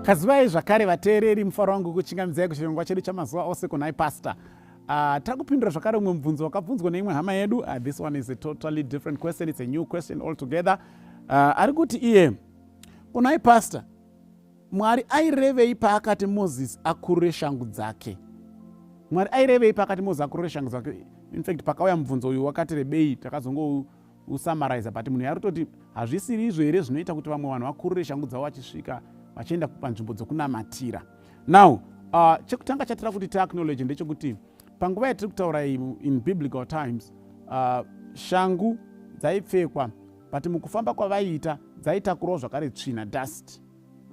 kazivai zvakare vateereri mufaro wangu kuchingamidzai kuchirongwa chedu chamazuva ose kunhai pasta Uh, ah, tiri kupindura zvakare umwe mubvunzo wakabvunzwa neimwe hama yedu uh, this one is a totally different question it's a new question altogether uh, ari kuti iye kunai pastor Mwari airevei paakati Moses akurure shangu dzake? Mwari airevei paakati Moses akurure shangu dzake? In fact, pakauya mubvunzo uyu wakati rebei, takazongousamaraiza but munhu yarutoti hazvisiri izvo here zvinoita kuti vamwe vanhu vakurure shangu dzavo vachisvika vachienda panzvimbo dzokunamatira. Now, uh, chekutanga chatira kuti tiacknowledge ndechekuti panguva yatiri kutaura in biblical times uh, shangu dzaipfekwa but mukufamba kwavaiita dzaitakurwa zvakare tsvina dust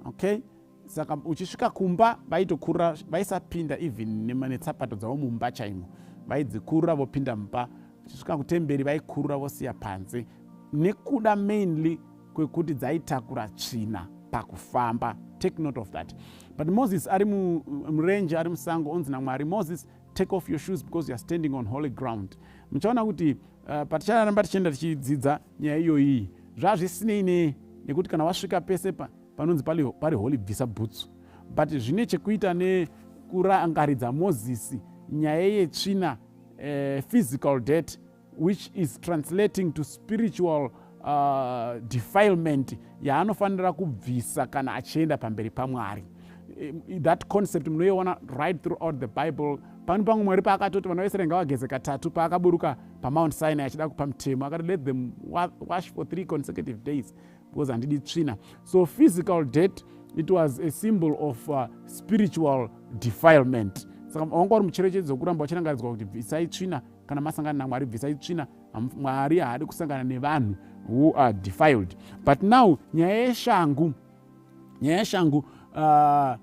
okay saka uchisvika kumba vaitokurura vaisapinda even netsapato dzavo mumba chaimo vaidzikurura vopinda mumba uchisvika kutemberi vaikurura vosiya panze nekuda mainly kwekuti dzaitakura tsvina pakufamba take note of that but moses ari murenje ari musango onzi namwari moses take off your shoes because youare standing on holy ground muchaona kuti uh, paticharamba tichienda tichidzidza nyaya iyoyi zvazvisinei ne nekuti kana wasvika pese pa, panonzi pari, pari holy bvisa bhutsu but zvine chekuita nekurangaridza mozisi nyaya yetsvina uh, physical debt which is translating to spiritual uh, defilement yaanofanira kubvisa kana achienda pamberi pamwari eh, that concept munoiona right throughout the bible pano pamwe mwari paakatoti vana vaisraeri ngavageze katatu paakaburuka pamount sinai achida kupa mutemo akati let them wash for three consecutive days because handidi tsvina so physical debt it was a symbol of uh, spiritual defilement saka wanga uri mucherechedzo wekuramba wachirangaridzwa kuti bvisai tsvina kana masangana namwari bvisai tsvina mwari haadi kusangana nevanhu who are defiled but now nyaya yeshangu nyaya yeshangu uh,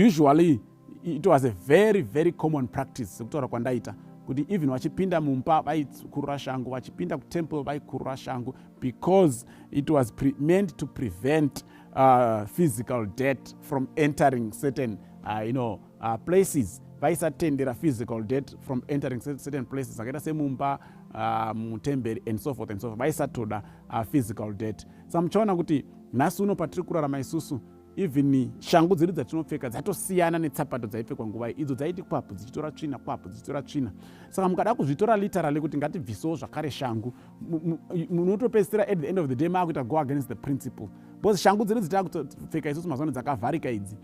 usually it was a very very common practice sekutaura kwandaita kuti even vachipinda mumba vaikurura shangu vachipinda kutemple vaikurura shangu because it was pre meant to prevent uh, physical debt from entering certain uh, you know, uh, places vaisatendera physical debt from entering certain places akaita semumba uh, mutemberi and so forth and so forth vaisatoda uh, physical debt sa muchaona kuti nhasi uno patiri kurarama isusu even shangu dzedu dzatinopfeka dzatosiyana netsapato dzaipfekwa nguva idzo dzaiti kwapu dzichitora tsvina kwapu dzichitora tsvina saka mukada kuzvitora literally kuti ngatibvisewo zvakare shangu munotopedzisira at the end of the day maakuita go against the principle because shangu dzedu dzitakutopfeka isusu mazano dzakavharika idzi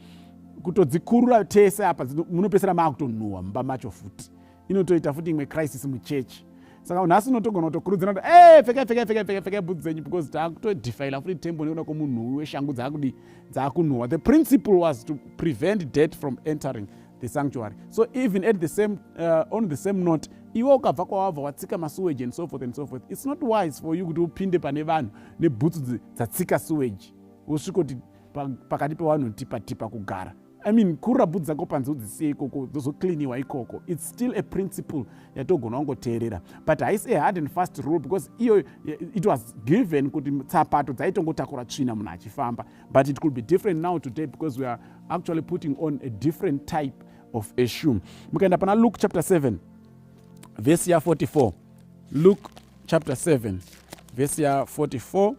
kutodzikurura tese apa munopedzisira maakutonhuhwa mumba macho futi inotoita futi imwe crisis muchechi saka nhasi unotogona kutokurudzira kuti e pfekai pfekai pfekai pfekai pfekai bhudzi dzenyu because taakutodhifaila futi tembo nekuda kwomunhuwi weshangu dzaakudii dzaakunhuwa the principle was to prevent debt from entering the sanctuary so even at the same uh, on the same note iwe ukabva kwawabva watsika masuwage and so forth and so forth it's not wise for you kuti upinde pane vanhu nebhutsu dzatsika suwage wosvikoti pakati pevanhu tipa tipa kugara I mean kurabhu dzako panze udzisiye ikoko dzozocleaniwa ikoko its still a principle yatogona wangoteerera but haisi a hard and fast rule because iyo eh, it was given kuti tsapato dzaitongotakura tsvina munhu achifamba but it could be different now today because we are actually putting on a different type of a shoe mukaenda pana luke chapter 7 vhesi ya 44 luke chapter 7 vhesi ya 44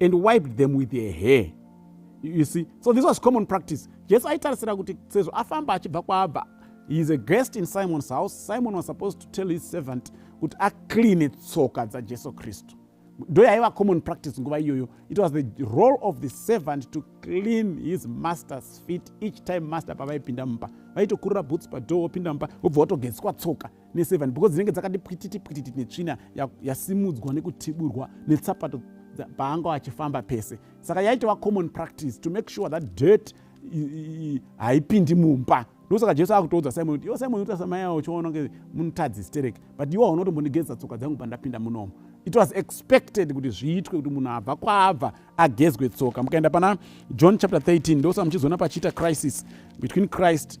and wiped them with her hair you see so this was common practice jesu aitarisira kuti sezvo afamba achibva kwaabva he is a guest in simon's house simon was supposed to tell his servant kuti acleane tsoka dzajesu kristu ndo yaiva common practice nguva iyoyo it was the role of the servant to clean his master's feet each time master pavaipinda mumba vaitokurira boots padoor wopinda mumba wobva watogeziswa tsoka neseven because dzinenge dzakati pwititi pwititi netsvina yasimudzwa ya nekutiburwa netsapato paanga achifamba pese saka yaitova common practice to make sure that dirt haipindi mumba ndosaka jesu akutoudza simon kuti iwo simon unoita samayawo uchiona kunge munotadzi stereki but iwo haunotombondigezesa tsoka dzangu pandapinda munomo it was expected kuti zviitwe kuti munhu abva kwaabva agezwe tsoka mukaenda pana john chapter 13 ndosaka muchizoona pachiita crisis between christ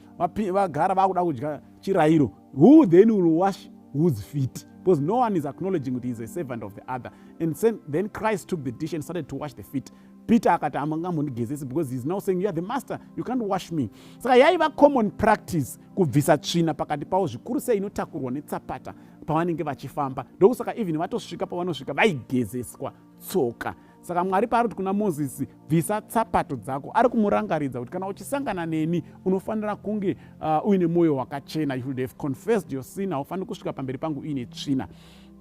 vagara vakuda kudya chirairo who then will wash whose feet because no one is acknowledging kuti is a servant of the other and then christ took the dish and started to wash the feet peter akati amangamhondigezesi because heis now saying youare the master you can't wash me saka yaiva common practice kubvisa tsvina pakati pavo zvikuru sei inotakurwa netsapata pavanenge vachifamba ndokusaka even vatosvika pavanosvika vaigezeswa tsoka saka mwari paari kuti kuna mozisi bvisa tsapato dzako ari kumurangaridza kuti kana uchisangana neni unofanira kunge uh, uine mwoyo wakachena you should have confessed your sin haufaniri kusvika pamberi pangu uine tsvina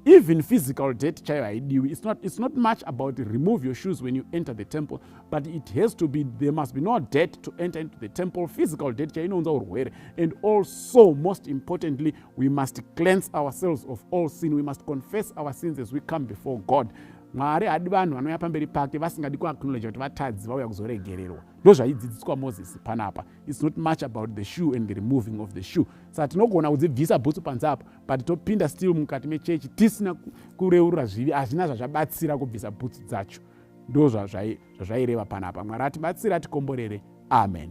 even physical debt chaiyo haidiwi it's not, it's not much about remove your shoes when you enter the temple but it has to be there must be no debt to enter into the temple physical debt chaiyo inounza urwere and also most importantly we must cleanse ourselves of all sin we must confess our sins as we come before god mwari hadi vanhu vanouya pamberi pake vasingadi kuaknowledge kuti vatadzi vauya kuzoregererwa ndo zvaidzidziswa moses panapa its not much about the shoe and the removing of the shoe saka tinogona kudzibvisa bhutsu panze apo but topinda still mukati mechechi tisina kureurura zvivi hazvina zvazvabatsira kubvisa bhutsu dzacho ndo zvazvaireva panapa mwari atibatsire atikomborere amen